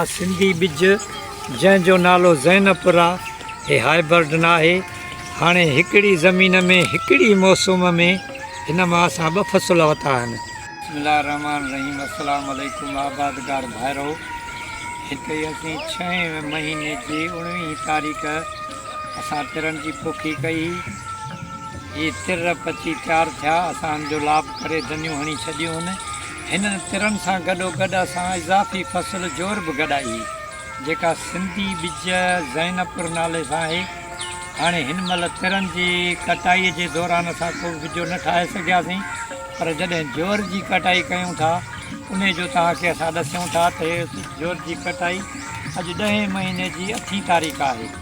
مان سنڌي ٻج جنهن جو نالو زينب پورا هي هائبرڊ ناهي هاڻي هڪڙي زمين ۾ هڪڙي موسوم ۾ هن مان اسان ٻه فصل وتا آهن. بسم الله الرحمن الرحيم السلام عليڪم آبادگار ڀائرو هتي اسين ڇهين مهيني جي اڻويهين تاريخ اسان ترن جي پوکي ڪئي هي هي تر پچي تيار ٿيا اسان ان جو لاب ڪري دنيون هڻي ڇڏيون هن هنن ترن سان گڏوگڏ اسان اضافي فصل جور به گڏائي هئي، جيڪا سنڌي ٻج زينپور نالي سان آهي. هاڻي هن مهل ترن جي ڪٽائي جي دوران اسان ڪو به ٻجو نه ٺاهي سگهياسين، پر جڏهن جور جي ڪٽائي ڪيون ٿا، انهي جو توهان کي اسان ڏسيون ٿا ته هي جور جي ڪٽائي اڄ ڏهين مهيني جي اٺين تاريخ آهي.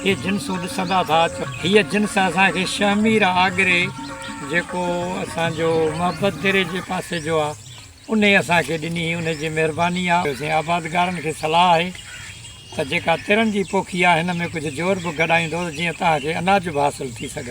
اهي جنسون ڏسندا ٿا ته هيء جنس اسان کي شهمير آگري جيڪو اسان جو محبت دري جي پاسي جو آ انهي اسان کي ڏني هي انهي جي مهرباني آ. ويسين آبادگارن کي صلاح آهي ته جيڪا ترن جي پوکي آ هن ۾ ڪجهه جور به گڏائيندو ته جيئن توهان کي اناج به حاصل ٿي سگهن.